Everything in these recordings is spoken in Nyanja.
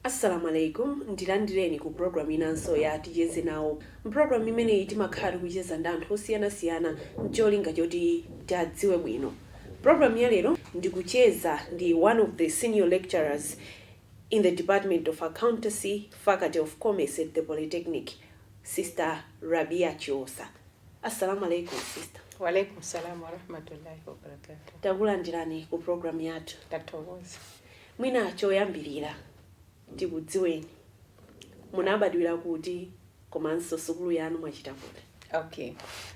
Assalamu Alaykum, ndilandireni ku program inanso ya Ticheze Nawo. M'program imeneyi timakhala tikucheza ndi anthu osiyanasiyana ncholinga choti tiadziwe bwino. Program ya lero ndikucheza ndi one of the senior lecturers in the Department of Accountancy, Faculty of Commerce at the Polytechnic, Sister Rabia Chiosa. Assalamu Alaykum sister. Wa Alaykum Salaam Warahmatullahi Wabarakatuh. Takulandirani ku program yathu. Tathokoza. Mwina choyambirira tikudziweni, munabadwira kuti komanso sukulu yanu mwachita kuti? Okay.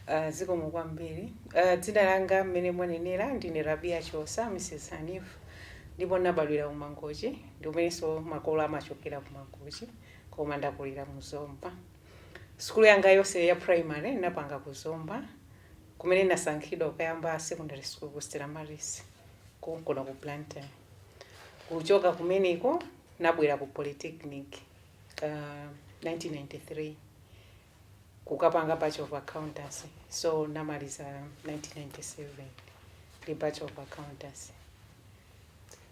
Uh, zikomo kwambiri. Uh, dzina langa mmene mwanenera ndine Rabia Chiosa, Mrs. Hanif. Ndipo nabadwira ku Mangochi, ndi kumenenso makolo amachokera ku Mangochi, koma ndakulira mu Zomba. Sukulu yanga yonse ya primary napanga ku Zomba, kumene nasankhidwa kuyamba secondary school ku Stella Maris. konkuno ku blantyre kuchoka kumeneko nabwera ku polytechnic uh, 1993 kukapanga bachelor of accountancy so namaliza 1997 ndi bachelor of accountancy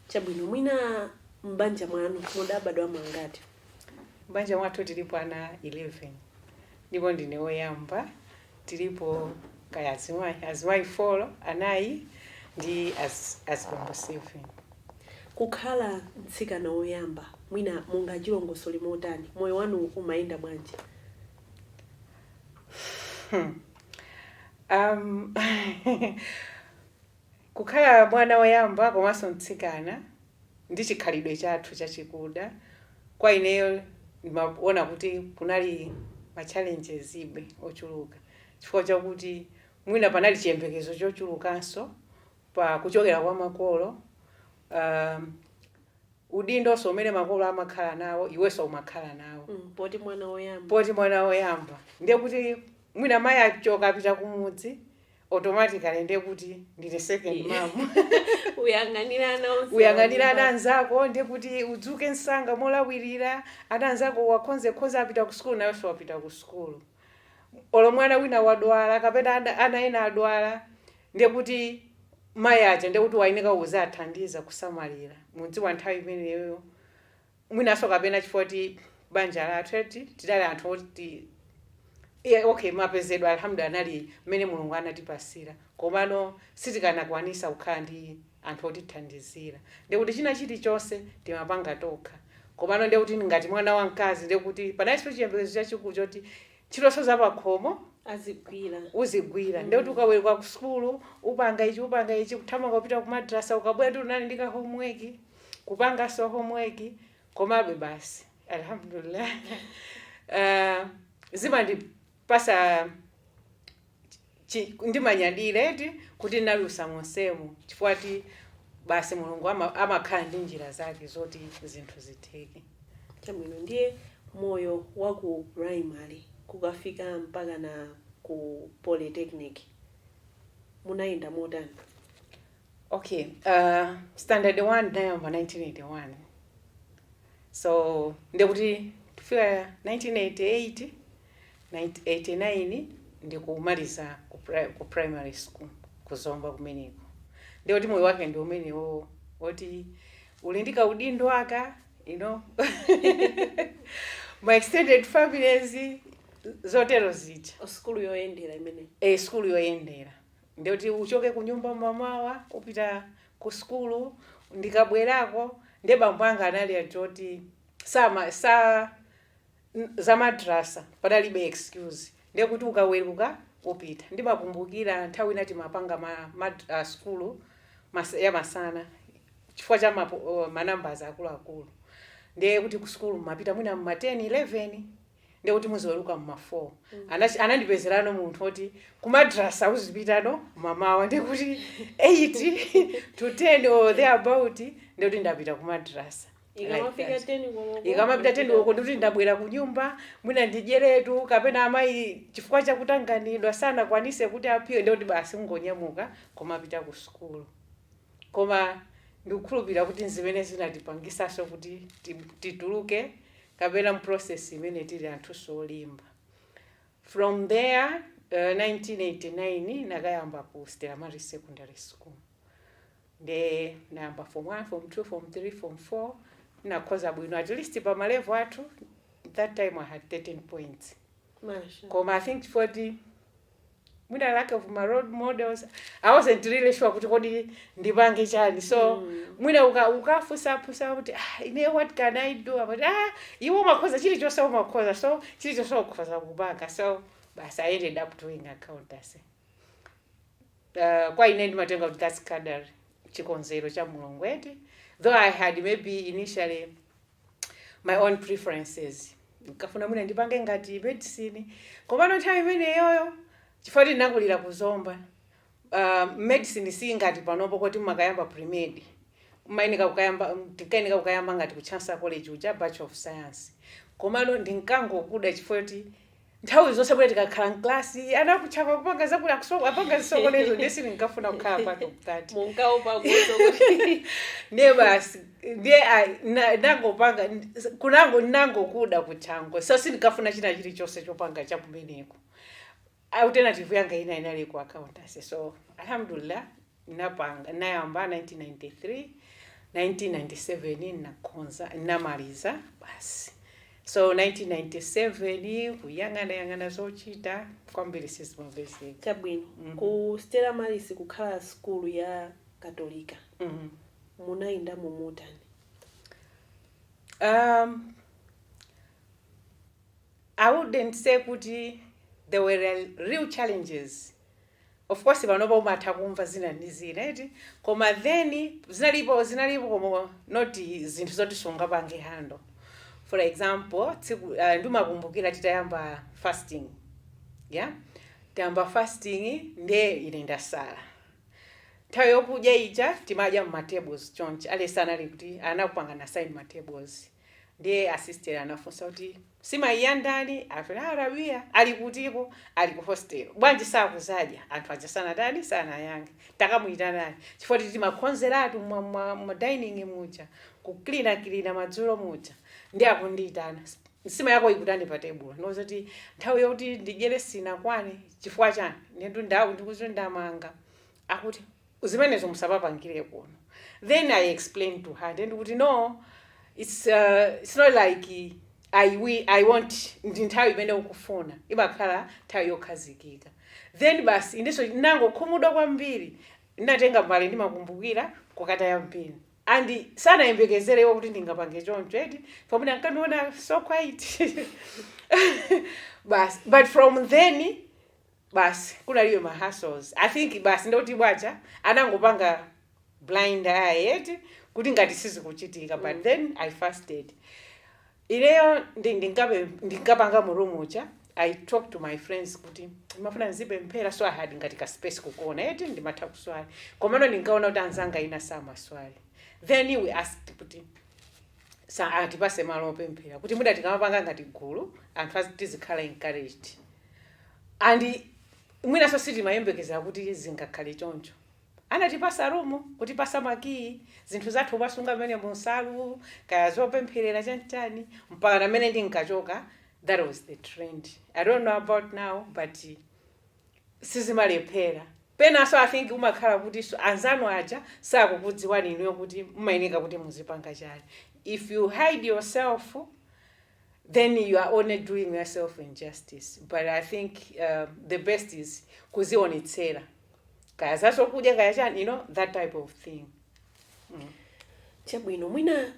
chabwino mwina m'banja mwanu mudabadwamo angati m'banja mwathu tilipo ana 11 ndipo ndine woyamba tilipo kaya azimayi azimayi folo anayi ndi azibambo 7. Kukhala mtsikana woyamba mwina mungachilongosole motani? Moyo wanu umayenda bwanji? Hmm. Um. Kukhala mwana woyamba komanso mtsikana ndi chikhalidwe chathu chachikuda, kwa ineyo ndimaona kuti kunali ma challengesbe ochuluka chifukwa chakuti mwina panali chiyembekezo chochulukanso pa kuchokera kwa makolo, uhm, udindonso umene makolo amakhala nawo iwenso umakhala nawo, uhm, poti mwana woyamba. Poti mwana woyamba, ndiye kuti mwina mayi achoka apita kumudzi, automatically ndiye kuti ndine second mom uyang'anira ana onse uyang'anira ana anzako ndiye kuti udzuke msanga molawirira ana anzako wakhonzekhonze apita ku sukulu nawenso wapita ku sukulu olo mwana wina wadwala kapena ana- ana ena adwala ndiye kuti mayi achoka ndiye kuti uyeneka uzithandiza kusamalira mudziwa nthawi imeneyo mwinanso kapena chifukwa kuti banja lathu eti tidali anthu oti yeah, okay mapezedwe alhamdu anali mmene mulungu anatipasira komano sitikanakwanisa kukhala ndi anthu otithandizira ndekuti china chilichonse timapanga tokha komano ndekuti ngati mwana wamkazi ndekuti panalinso chiyembekezo chachikulu choti ntchitonso zapakhomo azigwira uzigwira ndekuti ukaweruka ku sukulu upanga ichi upanga ichi kuthamanga kupita ku madrasa ukabwera ndi unali ndi ka homework kupanganso homework komabe basi alhamdulillah uh, zimandipasa chi- ndimanyadira eti kuti ndinadutsa monsemo chifukwa ti basi mulungu ama- amakhala ndi njira zake zoti zinthu zitheke chabwino ndiye moyo wa ku primary kukafika mpaka na ku polytechnic munayenda motani Okay, uh, standard 1 ndinayamba 1981 so ndekuti kufika 1988 1989 ndikumaliza ku, pri ku primary school ku zomba kumeneko ndekuti moyo wake ndi umenewo woti uli ndi kaudindo kaku ma extended families zotero zija sukulu yoyendera imene eh, sukulu yoyendera Ndiyekuti uchoke kunyumba mmamawa kupita Ku sukulu ndikabwerako ndiye bambo anga anali anthu oti sama sa za madrasa panalibe excuse ndiyekuti ukaweruka upita ndimakumbukira nthawi ina tinkapanga ma mad sukulu mas ya masana chifukwa cha ma ma numbers akuluakulu ndiyekuti Ku sukulu mumapita mwina mma 10, 11. ndiye kuti muziweruka mma 4 Anach- anandipezerano munthu oti kumadrasa uzipitano mmamawa ndiye kuti 8 to 10 or there about ndiye kuti ndapita kumadrasa ikamafika 10 koloko ndikuti ndabwera kunyumba mwina ndidyeretu kapena amayi chifukwa chakutanganidwa sanakwanitse kuti aphike ndikuti basi ngonyamuka kumapita ku sukulu Koma ndikukhulupirira kuti nzimene zinatipangisanso kuti tituluke kapena mu process imene tili anthunso olimba. From there 1989 nakayamba ku Stella Maris Secondary School. Nde nayamba form 1, form 2, form 3, form 4 nakhoza bwino at least pa ma level athu that time I had 13 points. Masha. Koma I think chifukwa kuti mwina lack of ma role models i wasn't really sure kuti kodi ndipange chani so mm. mwina uka, ukafusa afusa kuti ah, ine what can i do amati ah, iwe umakhoza chilichonse umakhoza so chilichonse ukhoza kupanga so basi i ended up doing accountancy uh, kwa ine ndimatenga kuti that's qadar chikonzero cha mulungu eti though i had maybe initially my own preferences nkafuna mwina ndipange ngati medicine komano nthawi imeneyoyo chifukwa tinakulira ku zomba uh, medicine si ngati panopo koti mumakayamba premed mayeneka kukayamba tinkayeneka kukayamba ngati ku chancellor college uja bachelor of science komano ndinkangokuida chifukwa kuti nthawi zonse kuti tikakhala mklasi anakutchapa kupanga zakuti kuso- apanga zisokonezo ndiye sindinkafuna kukhala pano mkati munkaopa kuso kuti ndiye basi ndiye ah, na- nangopanga n- kunango nangokuda kuthango so sindikafuna china chilichonse chopanga chakumeneko, alternative yanga ina inali ku accountancy so alhamdulillah Ndinapanga, ndinayamba 1993, 1997 ndinakhoza, ndinamaliza basi. So 1997 kuyang'ana yang'ana zochita kwambiri sizimapezeka. Chabwino. Mm. Ku Stella Maris kukhala sukulu ya Katolika Mm. munayenda mu motani? Um, I wouldn't say kuti there were real challenges Of course panopa umatha kumva zina ndi zina eti koma then zinalipo zinalipo koma not zinthu zoti sungapange handle for example tsiku uh, ndimakumbukira titayamba fasting yeah tayamba fasting nde ine ndasala nthawi yokudya ija timadya mmatables chonchi mwalesi anali kuti anakupangana assign matables ndiye asister anafunsa kuti Nsimayi ya ndani akuti ya Rabia ali kutiko ali ku hostel bwanji sakudzadya anthu aja sanatani sanayankhe takamuitanani chifukwa tili timakonzeratu mma mma mma dining muja kukilina kilina madzulo muja nde akundiitana nsima yako ikutani pa tebulo ndakuti nthawi yoti ndidyere sinakwane chifukwa chani inetu ndawu ndikuti ndamanga akuti zimenezo musapapangire kuno then i explained to her ndiye ndakuti no it's, uh, it's not like I, we, i want ndi nthawi imene ukufuna imakhala nthawi yokhazikika then basi inenso ndinangokhumudwa kwambiri ndinatenga mbale ndimakumbukira kukataya m'bini and sanayembekezerewo kuti ndingapange choncho eti pamene ankandiona so quiet basi but from then basi kunalibe ma hassles i think basi ndekuti bwanji anangopanga blind eye eti kuti ngati sizikuchitika but mm. then i fasted ineyo ndi- ndinkape- ndinkapanga mu room uja i talked to my friends kuti ndimafuna ndizipemphera so i had ngati ka space kukona eti ndimatha kuswali komano ndinkaona kuti anzanga ina samaswali then we asked kuti za atipatse malo opempherera kuti mwina tikamapanga ngati gulu anthu azi- tizikhala encouraged and mwinanso sitimayembekezera kuti zingakhale choncho anatipatsa room kutipatsa makiyi zinthu zathu kumasunga mmenemo nsalu kaya zopempherera chanichani mpaka mmene ndinkachoka that was the trend i don't know about now but sizimalephera penanso i think umakhala kuti so- anzanu aja sakukudziwani inuyo kuti mumayeneka kuti muzipanga chani if you hide yourself then you are only doing yourself injustice but i think uh, the best is kuzionetsera kaya zazokudya kaya chani you know that type of thing chabwino mwina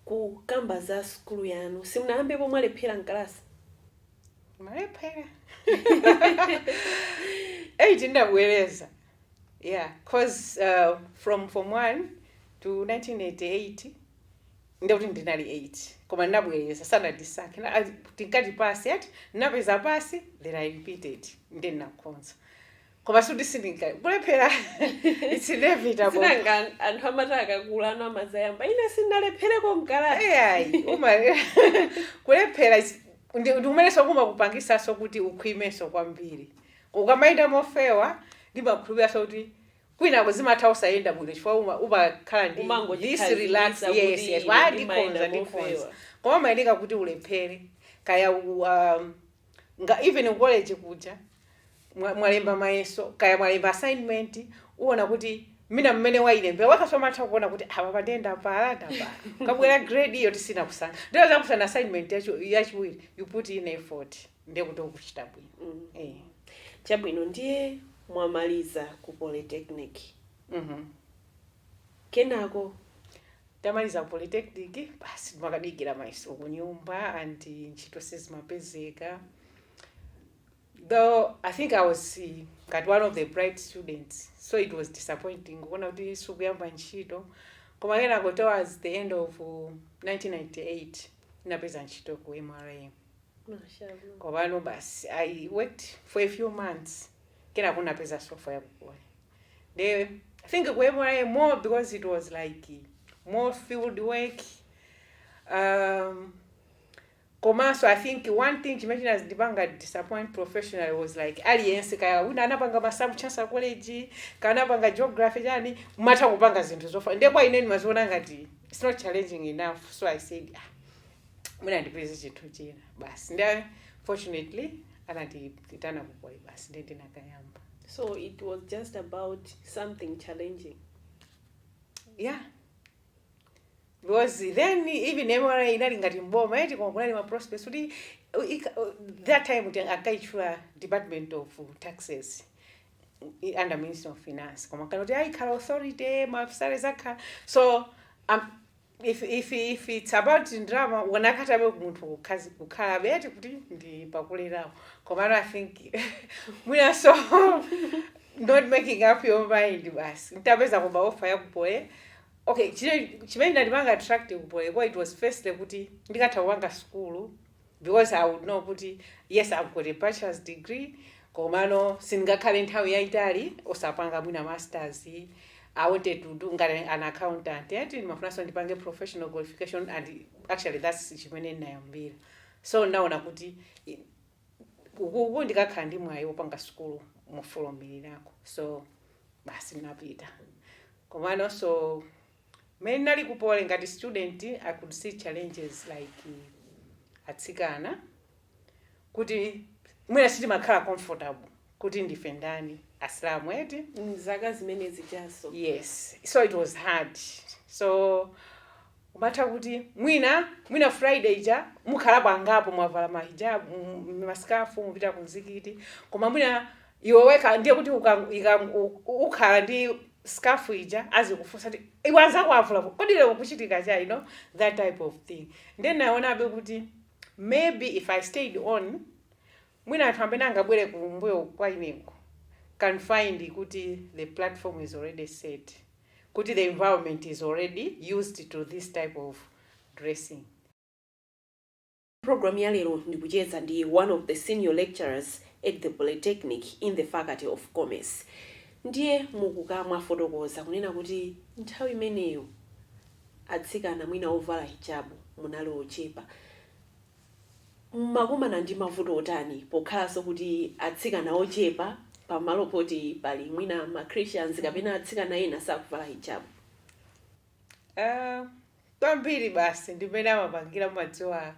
kukamba za sukulu yanu simunayambepo mwalephera mkalasi ndinalephera eight ndabwereza yeah cause uh, from form one to 1988 nde kuti ndinali 8 koma ndinabwereza sanandisankhe ngati tinkati pass eti ndinapeza pass then i repeated nde ndinakhonza koma sikuti sindinka kulephera it's inevitable sinanga anthu amati akakula ana amazayamba ine sinalephereko mkalasi ayi koma kulephera is- ndi- ndikumenenso kumakupangisanso kuti ukhwimenso kwambiri ukamayenda mofewa ndimakhulupiriraso kuti kwinako zimatha osayenda bwino chifukwa uma- umakhala ndi this relax umangotikhazikisa kuti yes yes ine wa ndimayenda ndikhonza ndikhonza mofewa koma umayeneka kuti ulephere kaya u- um, nga even ku college kuja mwa- mwalemba mayeso kaya mwalemba assignment uona kuti mwina mmene wailembera wakaso matha kuona kuti apa pande ndapala ndapala ikabwera grade iyo tisina kusankha ndiyo zakusana assignment yachi- yachiwiri you put in effort ndiye kuti ukuchita bwino mm. eh. chabwino ndiye mwamaliza ku polytechnic mm -hmm. kenako tamaliza ku polytechnic basi timadikira mayeso ku nyumba and ntchito sizimapezeka though i think i was ngati one of the bright students so it was disappointing kuona kuti sikuyamba ntchito koma kenako towards the end of 1998 uh, ndinapeza ntchito ku mra Mashallah. Komano basi I worked for a few months. Kenako napeza sofa yakugona. They I think kwaine more because it was like more field work. Um, komanso i think one thing chimene chinadzandipanga disappoint professionally was like aliyense kaya wina anapanga masamu Chancellor College kaya anapanga geography chani amatha kupanga zinthu zofanana nde kwa ine ndimaziona ngati it's not challenging enough so i said ah, mwina ndipeze chinthu china basi ndi fortunately anatiitana kukwai basi ndi ndinakayamba So it was just about something challenging. yeah because then even mra inali ngati mboma eti koma kunali ma prospects kuti uh, ika- uh, that time kuti akaitchula department of taxes i- under ministry of finance koma kanali kuti ikhala authority maafisale zakhala so um, if it's about ndalama ukanakhalabe munthu kukhazi- kukhalabe ati kuti ndi pakuleramo komano i think mwinanso not making up your mind basi nditapeza offer ya ku poly okay chine- chimene chinandipanga attract ku poly ko it was firstly kuti ndikatha kupanga sukulu because I would know kuti yes I've got a bachelor's degree komano sindingakhale nthawi yaitali osapanga mwina masters I wanted to do ngati an accountant yet ndimafunanso ndipange professional qualification and actually that's chimene ndinayambira so ndinaona kuti i- ukuku ndikakhala ndi mwayi wopanga sukulu mofulumirirako so basi ndinapita komanonso Mmene ndinali ku poly ngati student I could see challenges like atsikana kuti mwina sitimakhala comfortable kuti ndife ndani asilamu eti Mzaka zimene zijazo. yes so it was hard so umatha kuti mwina mwina friday ija mukhalapo angapo mwavala mahijab masikafu mupita ku mzikiti koma mwina iwe wekha ndiye kuti uka- u- ukhala ndi scarf ija azikufunsa kuti iwe anzako avula kodi lero kukuchitika chani you know that type of thing ndiye ndinaonabe kuti maybe if i stayed on mwina anthu amene angabwere kumbuyo kwa ineyo can find kuti the platform is already set kuti the environment is already used to this type of dressing Programu ya lero ndikucheza ndi one of the senior lecturers at the Polytechnic in the faculty of Commerce. Ndiye mukukamba mwafotokoza kunena kuti nthawi imeneyo atsikana mwina ovala hijabu munali ochepa. Mumakumana ndi mavuto otani pokhalanso kuti atsikana ochepa pamalo poti pali mwina ma Christians kapena atsikana ena sakuvala hijabu? Ah, kwambiri basi ndimene amapangira mumadziwa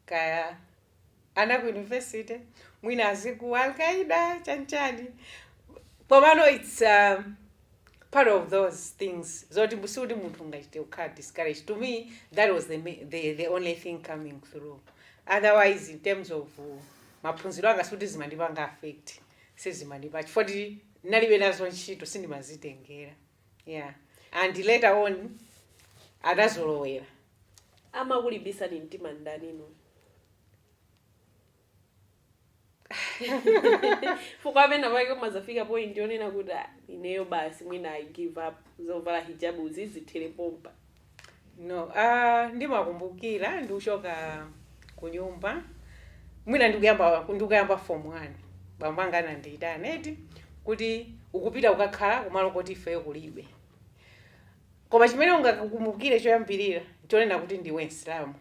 kaya ana ku university mwina aziti Al-Qaeda chanichani komano its um, part of those things zoti sikuti munthu ungachite kukhala discouraged to me that was the, ma- the, the only thing coming through otherwise in terms of uh, maphunziro anga sikuti zimandipanga affect sizimandipanga chifukwa choti ndinalibe nazo ntchito sindimazitengera yeah and later on anazolowera amakulimbitsani mtima ndani chifukwa penapake umazafika point yonena kuti "Ah, ineyo basi mwina i give up zovala hijabu zizithere pompa No. Uh, ndimakumbukira ndikuchoka kunyumba mwina ndikuyamba form 1 bambo anga anandiyitana eti kuti ukupita kukakhala kumalo koti ifeyo kulibe koma chimene ungakumbukire choyambirira chonena kuti ndiwe msilamu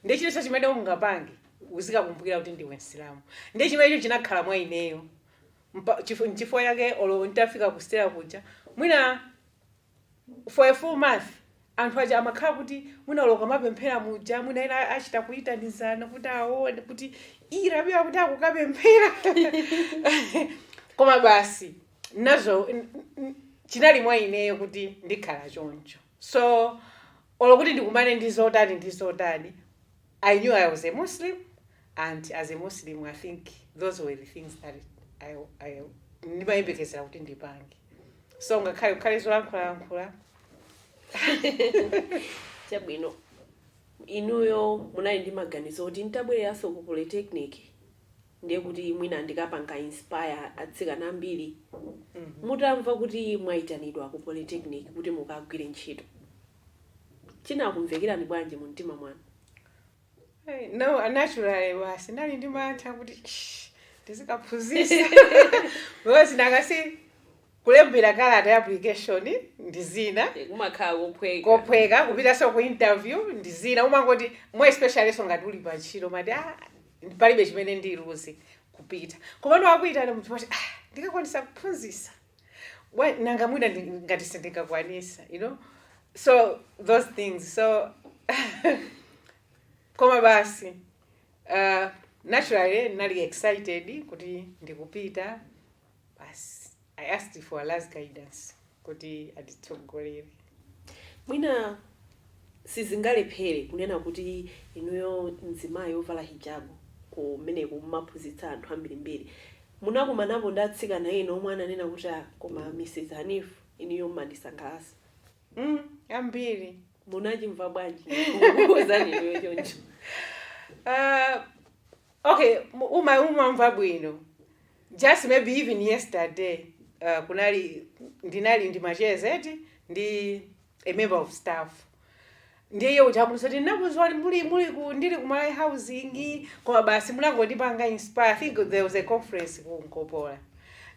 ndiye chilichonse chimene ungapange uzikakumbukira kuti ndiwe msilamu ndiye chimenecho chinakhala mwa ineyo Mpa- chifu- nchifukwa chake olo nditafika kustera kuja mwina for a full month anthu aja amakhala kuti mwina olo ukamapemphera muja mwina ena achita kuyitanizana kuti aone kuti "Ii, Rabia kuti akukapemphera koma basi nazo n- n- chinali mwa ineyo kuti ndikhala choncho so olo kuti ndikumane ndi zotani ndi zotani I knew I was a Muslim and as a Muslim I think those were the things that I, I, ndimayembekezera kuti ndipange so ngakhale kukhale zolankhulalankhula chabwino inuyo munali ndi maganizo kuti nditabwereranso ku polytechnic ndiye kuti mwina ndikapanga inspire atsikana ambiri mutamva kuti mwayitanidwa ku polytechnic kuti mukagwire ntchito chinakumvekerani bwanji mu mtima mwanu? Hey, no, naturally basi ndinali ndi mantha kuti ndizikaphunzisa because mwina kazi kulembera kalata ya application ndi zina Eh, kumakhala kophweka kophweka kupitaso ku interview ndi zina umangoti more especially so ngati uli pantchito umati ah, palibe chimene ndiluzi kupita komano akuitana munthu umati ah, ndikakwanisa kuphunzisa bwa nanga mwina ndi- ngati sindikakwanitsa you know so those things so koma basi uh, naturally ndinali excited kuti ndikupita basi i asked for Allah's guidance kuti anditsogolere Mwina sizingalephere kunena kuti inuyo mzimayi ovala hijabu kumeneko mumaphunzitsa anthu ambirimbiri, munakumanapo ndi atsikana ena omwe ananena kuti ah koma Mrs Hanif inuyo mumandisangalatsa mm ambiri. Munachimva bwanji kukuuzani inuyo choncho? Ah. Ok, uma umamva bwino. Just maybe even yesterday, uh, kunali ndinali ndi macheza eti ndi a member of staff. Ndiye iye uja akuti sati ndinakudziwani muli muli ku ndili ku Malawi housing koma basi munangondipanga inspire. I think there was a conference ku Nkopola.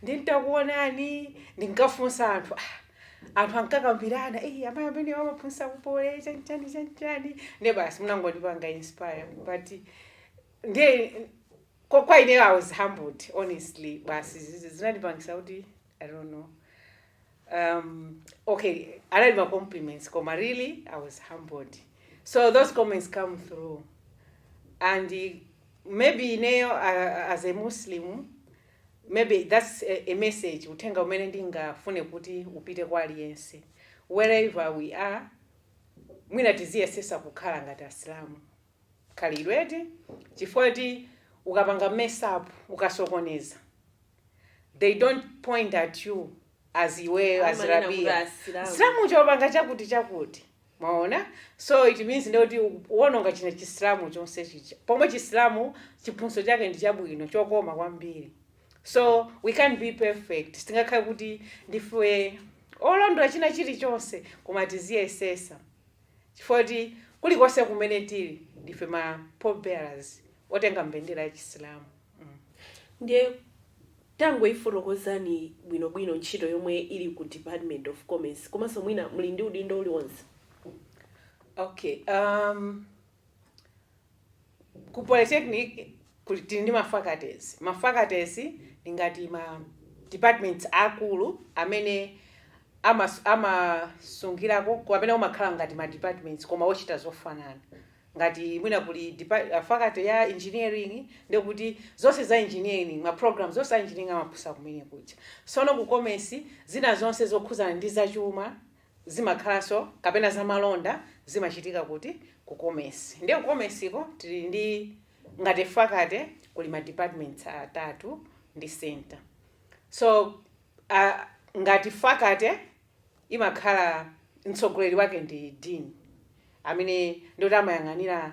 Nditakuonani ndinkafunsa anthu ah, anthu ankakambirana eh amai amene amaphunzitsa ku Poly chani chani chani chani. Ndiye basi munangondipanga inspire but ndiye kwa, kwa ineyo i was humbled honestly basi zizi zinandipangisa kuti i don't know um, okay analidi ma compliments koma really i was humbled so those comments came through and eh, maybe ineyo uh, as a muslim maybe that's a, a message uthenga umene ndingafune kuti upite kwa aliyense wherever we are mwina tiziyesesa kukhala ngati asilamu khalidwe eti chifukwa choti ukapanga mess up ukasokoneza they don't point at you as iweyo as Amanena kuti rabia asilamu. msilamu chopanga chakuti chakuti mwaona so it means ndekuti uwononga dzina la chisilamu chonse chicha pomwe chisilamu chiphunzitso chake ndi chabwino chokoma kwambiri so we can't be perfect sitingakhale kuti ndife olondola china chilichonse koma tiziyesesa chifukwa choti kulikonse kumene tili ndife ma pallbearers otenga mbendera ya chisilamu. Ndiye tangoifotokozani bwino bwino ntchito yomwe muli ku Department of Commerce komanso mwina muli ndi udindo uliwonse? Okay. Ku Polytechnic kuli tili ndi ma faculties. Ma faculties ndi ngati ma departments aakulu amene amas amasungirako kapena umakhala ngati ma departments koma ochita zofanana. Ngati mwina kuli depa faculty ya Engineering ndiye kuti zonse za Engineering ma programs onse a Engineering amaphunzitsa kumene kuja. Sono ku Commerce zina zonse zokhudzana ndi zachuma zimakhalanso kapena zamalonda zimachitika kuti ku commerce ndiye ku commerce ko tili ndi ngati faculty kuli ma departments atatu ndi center so uh, ngati faculty imakhala mtsogoleri wake ndi dean amene ndiye kuti amayang'anira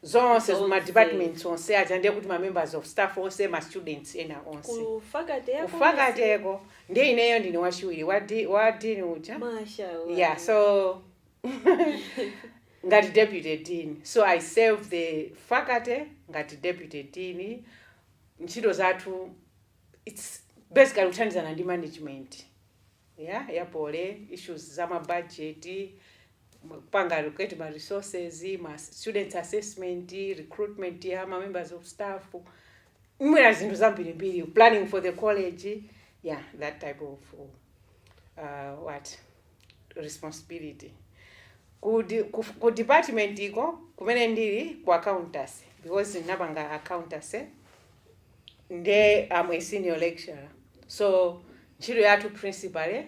zonse ku ma Zonse. departments onse aja ndiye kuti ma members of staff onse ma students ena onse ku faculty ya kufakateko ndiye ineyo ndine wachiwiri wa di- wa dean uja mashallah yeah so ngati deputy dean so i serve the faculty ngati deputy dean ntchito zathu its basically kuthandizana ndi management ya ya poly issues za ma budget, kupanga allocate ma resources, students assessment, recruitment ya ma members of staff, mwina zinthu zambirimbiri, planning for the college, ya that type of uh, what responsibility ku, di, ku, ku department iko kumene ndili ku accountancy because ndinapanga accountancy nde I'm a senior lecturer so ntchito yathu principally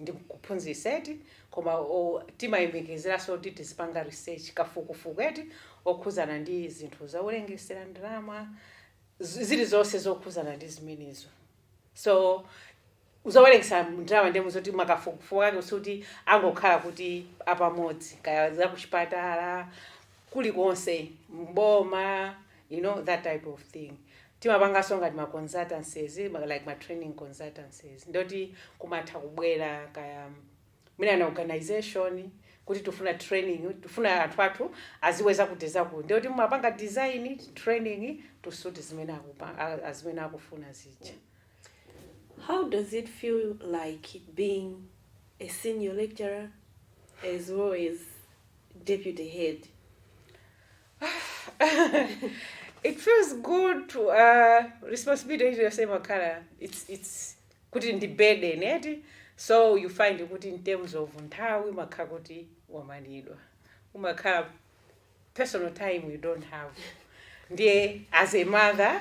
ndi kuphunzitsa eti koma o- timayembekezeranso kuti tizipanga research kafukufuku eti okhuzana ndi zinthu zowerengetsera ndalama zi- zilizonse zokhuzana ndi zimenezo so Zowerengetsa ndalama ndiye mu zoti makafukufuku ake sikuti angokhala kuti apamodzi kaya zakuchipatala kulikonse m'boma you know that type of thing timapanganso ngati ma consultancies like ma training consultancies ndi oti kumatha kubwera kaya mwina na organization kuti tikufuna training tikufuna anthu athu aziwe zakuti zakuti ndiye kuti mumapanga design training to suit zimene akupa a- a- zimene akufuna zija How does it feel like being a senior lecturer as well as deputy head? it feels good to uh, responsibility yonse imakhala it's, it's imakhala kuti ndi burden eti so you find kuti in terms of nthawi umakhala kuti wamanidwa umakhala personal time you don't have ndiye as a mother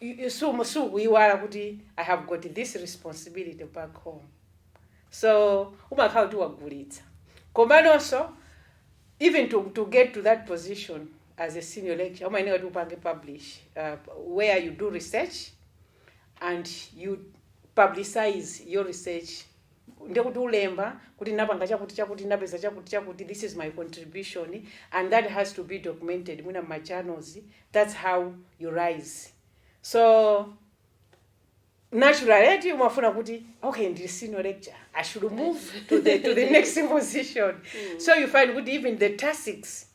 you sumu sukuyiwala kuti i have got this responsibility back home so umakhala kuti wagulitsa komanonso even to, to get to that position as a senior lecturer umayenera kuti upange publish uh, where you do research and you publicize your research ndiye kuti ulemba kuti ndinapanga chakuti chakuti ndinapeza chakuti chakuti this is my contribution and that has to be documented mwina mma journals that's how you rise so naturally eti umafuna kuti okay ndili senior lecturer i should move to the, to the next position so you find kuti even the tactics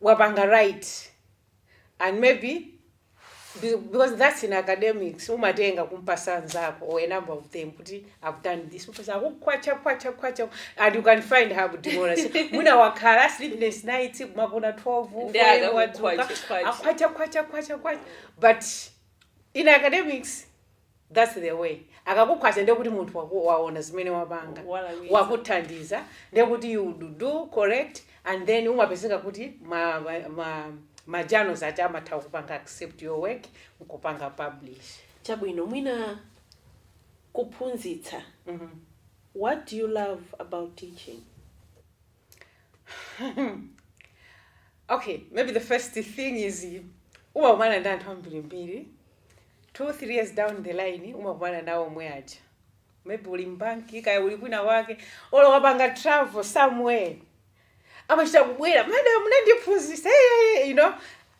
wapanga write and maybe be- because that's in academics umatenga kumpasa nzako or a number of them kuti i've done this because akukhwacha khwacha khwacha and you can find her kuti mona mwina wakhala sleepless nights kumagona 12 Ndi four, akakukhwacha, wadzuka, khwacha. akhwacha khwacha khwacha khwacha but in academics That's the way. Akakukhwacha ndiye kuti munthu waku, waona zimene wapanga. Walakwitsa. Wakuthandiza ndiye kuti you would do correct and then umapezeka kuti ma ma, ma, ma journals aja amatha kupanga accept your work nkupanga publish. chabwino mwina kuphunzitsa Mhm. what do you love about teaching okay maybe the first thing is umakumana ndi anthu ambirimbiri two three years down the line umakumana nawo omwe aja maybe uli mbanki kaya uli kwina wake olo wapanga travel somewhere amachita kubwera madam munandiphunzisa eyeye you know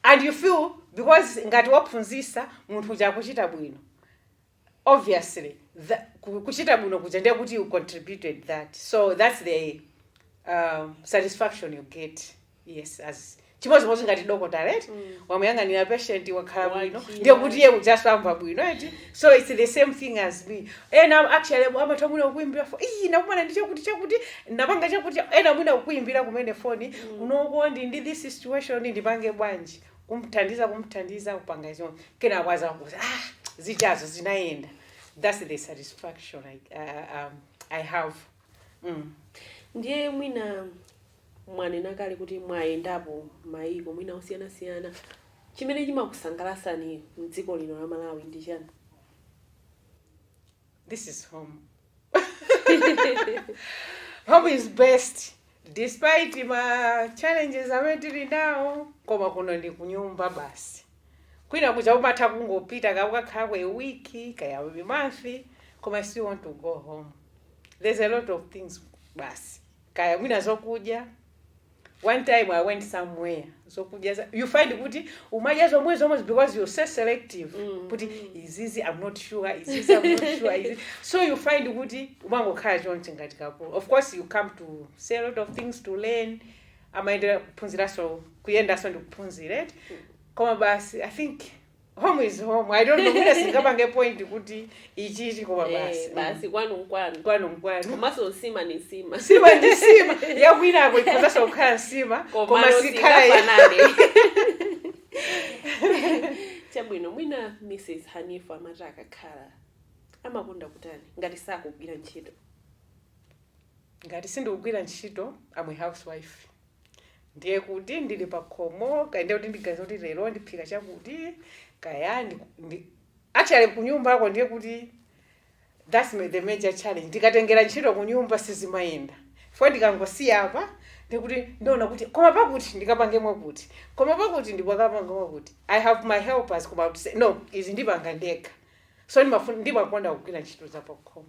and you feel because ngati wophunzisa munthu uja akuchita bwino obviously tha, ku- kuchita bwino kuja ndiye kuti you contributed that so that's the um, satisfaction you get yes it's chimodzimodzi ngati dokotala eti wamuyang'anira patient wakhala bwino Wakila. ndiye kuti iye ujanso amamva bwino eti so it's the same thing as me ena actually amatha mwina kukuimbira foni nakumana ndi chakuti chakuti napanga chakuti ena mwina kukuimbira kumene foni you know ndili ndi this situation ndipange bwanji kumthandiza kumthandiza kupanga izo kenako azakuuza ah zijazi zinayenda that's the satisfaction i, uh, um, I have mm. ndiye mwina mwanena kale kuti mwayendapo mayiko mwina osiyanasiyana chimene chimakusangalasani mdziko lino la malawi ndi chani this is home home is best despite ma challenges amene tili nawo koma kuno ndi kunyumba basi kwina kuja umatha kungopita kaya ukakhalako a week kaya a month koma still want to go home there's a lot of things basi kaya mwina zokudya one time i went somewhere zokudya za- you find kuti umadya zomwezo zomwezi because you're so selective Mm, kuti mm. izizi i'm not sure izizi i'm not sure izi so you find kuti umangokhala chonchi ngati kakulu of course you come to see a lot of things to learn amaendera kuphunziranso kuyendanso ndikuphunzira eti koma basi i think home is home i don't know mwina singapange point kuti ichichi koma Eh, basi basi kwanu nkwanu kwanu nkwanu komanso nsima ndi nsima nsima ndi nsima yakwinako ikhozanso kukhala nsima koma komano sikhala ya- singafanane chabwino mwina mrs hanifa amati akakhala amakonda kutani ngati sakugwira ntchito ngati sindikugwira ntchito I'm a housewife Ndiye kuti ndili pakhomo, kaya ndiye kuti ndiganiza kuti lero ndiphika chakuti, kaya ndi, ndi actually kunyumbako ndiye kuti that's ma- the major challenge. Ndikatengera ntchito kunyumba sizimayenda. Chifukwa ndikangosiya apa ndiye kuti ndiona kuti koma pakuti ndikapange mwakuti, koma pakuti ndikakapange mwakuti. I have my helpers koma I would say no, izi ndipanga ndekha. So ndimafuna ndimakonda kugwira ntchito za pakhomo.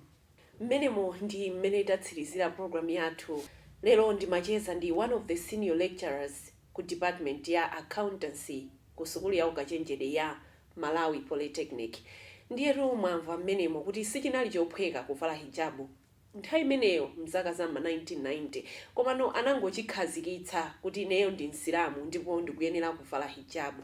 Mmenemo ndi mmene itatsirizire programu yathu lero. Ndimacheza ndi one of the senior lecturers ku department ya Accountancy ku sukulu ya ukachenjedwe ya Malawi Polytechnic. Ndiyetu mwamva mmenemo kuti sichinali chophweka kuvala hijabu nthawi imeneyo m'zaka za m'ma 1990. Komano anangochikhazikitsa kuti ineyo ndi Msilamu ndipo ndikuyenera kuvala hijabu.